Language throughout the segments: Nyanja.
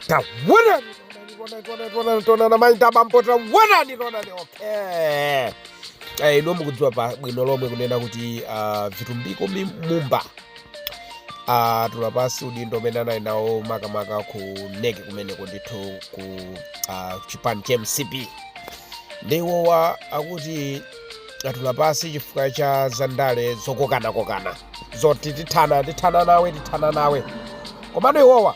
Taonani, taonani, taonani, taonani, taonani, maita bambo, taonani, taonani, okay. Eh, inu mukudziwa pa bwino lomwe kunena kuti ah, vitumbiko mi- mumba Ah, tula pansi udindo umene anali nawo makamaka ku NEC kumeneko ndithu ku ah, chipani cha mcp nde iwowa akuti atula pansi chifukwa cha zandale zokokanakokana zoti tithana tithana nawe tithana nawe komano iwowa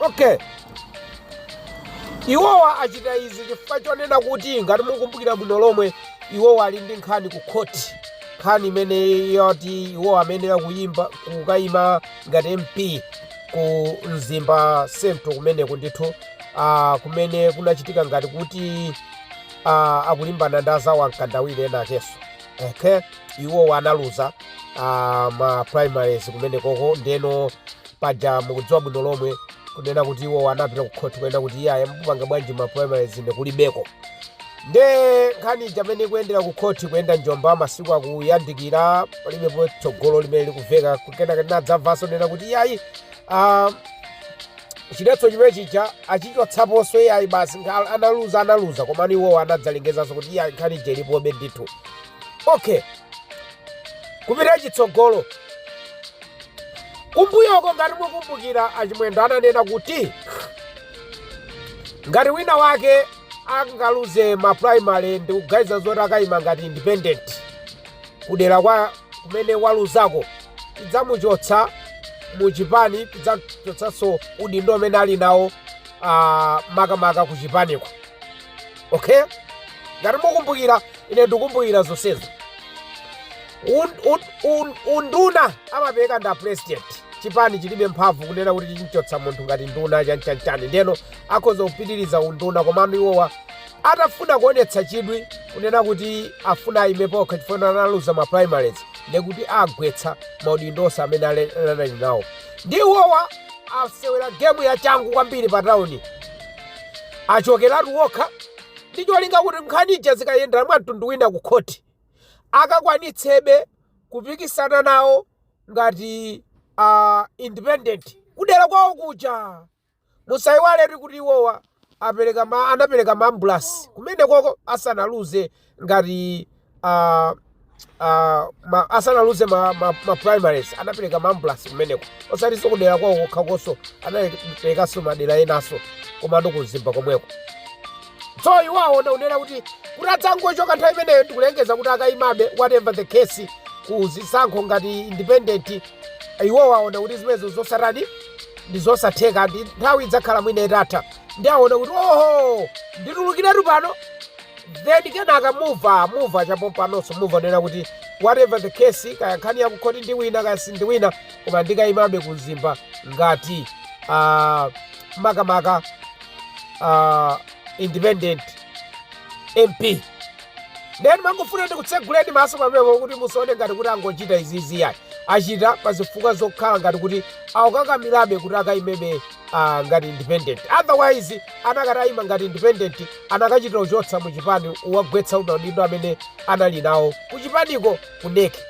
okay iwowa achita izi chifukwa chonena kuti ngati mukumbukira bwino lomwe iwowa ali ndi nkhani ku khoti nkhani imene yoti iwo amayenera kuyimba kukayima ngati mp ku mzimba central kumeneko ndithu ah, kumene kunachitika ngati kuti ah, akulimbana ndi azawo amkandawire enaakenso okay iwowo analuza ah, ma primaries kumenekoko ndeno paja mukudziwa bwino lomwe kunena kuti iwowo anapita ku khoti kunena kuti iyayi mupanga bwanji ma primaries ine kulibeko nde nkhani ija imene ikuyendera ku khoti kuyenda njomba masiku akuyandikira palibepo tsogolo limene likuveka kenaka tinadzamvanso kunena kuti iyayi ah, chiletso chimene chija achichotsaponso iyayi basi nga- analuza analuza komano iwowo anadzalengezanso kuti iyayi nkhani ija ilipobe ndithu okay kupita chitsogolo kumbuyoko ngati mukumbukira a Chimwendo ananena kuti ngati wina wake angaluze ma primary ndi kuganiza zoti akayima ngati independent kudera kwa kumene waluzako tidzamuchotsa mu chipani tidzachotsanso udindo umene ali nawo ah, makamaka ku chipaniko okay ngati mukumbukira ine ndikumbukira zonsezo unduna amapereka ndi a president chipani chilibe mphamvu kunena kuti chimchotsa munthu ngati nduna chanichani ndeno akhoza kupitiriza unduna komano iwowa atafuna kuonetsa chidwi kunena kuti afuna ayime paokha chifukwa analuza ma primaries ndekuti agwetsa maudindo onse amene ali nawo nde iwowa asewera gemu ya changu kwambiri pa tauni Achokeratu okha ndi cholinga kuti nkhani ija zikayendera mwa mtundu wina ku khoti, akakwanitsebe kupikisana nawo ngati independent kudera kwawo kuja. Musaiwaletu kuti iwowa apereka ma anapereka ma ambulasi kumenekoko asanaluze ngati ah, ah, ma- asanaluze ma, ma, ma primaries anapereka maambulasi kumeneko osatiso kudera kwawo kokhakonso anaperekanso madera enaso komano ku mzimba komweko so iwo aona kunena kuti kuti adzangochoka nthawi imeneyo ndikulengeza kuti akayimabe whatever the case ku zisankho ngati independent iwo aona kuti zimenezo zosatani ndi zosatheka ndi nthawi idzakhala mwina itatha ndi aona kuti oho nditulukiretu pano Then kenaka muva muva cha pompanoso muva nena kuti whatever the case kaya nkhani yakukhoti ndiwina kaya sindiwina koma ndikayimabe ku mzimba ngati uh, makamaka uh, independent mp nde mangofuna ndikutseguleni maso pamenepo kuti musaone ngati kuti angochita izizi yayi achita pa zifukwa zokhala ngati kuti akukakamirabe kuti akayimebe ah, ngati independent otherwise anakati aima ngati independent anakachita uchotsa mu chipani uwagwetsa maudindo amene anali nawo ku chipaniko ku neki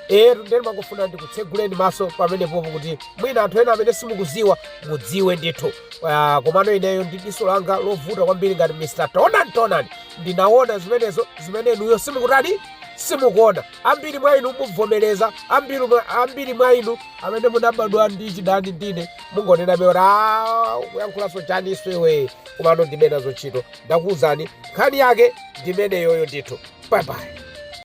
etu nde nimangofuna ndikutseguleni maso pamenepopo kuti mwina anthu ena amene simukuziwa mudziwe ndithu Ah, komano ineyo ndi diso langa lovuta kwambiri ngati mr taonani taonani ndinaona zimenezo zimene inuyo simukutani simukuona ambiri mwa inu muvomereza ambiri mwa- ambiri mwa inu amene munabadwa ndi chidani ndine mungonenabe kuti "Ah, ukuyankhulaso chaniso iwe komano ndilibe nazo ntchito ndakuwuzani nkhani yake ndimeneyoyo ndithu bye bye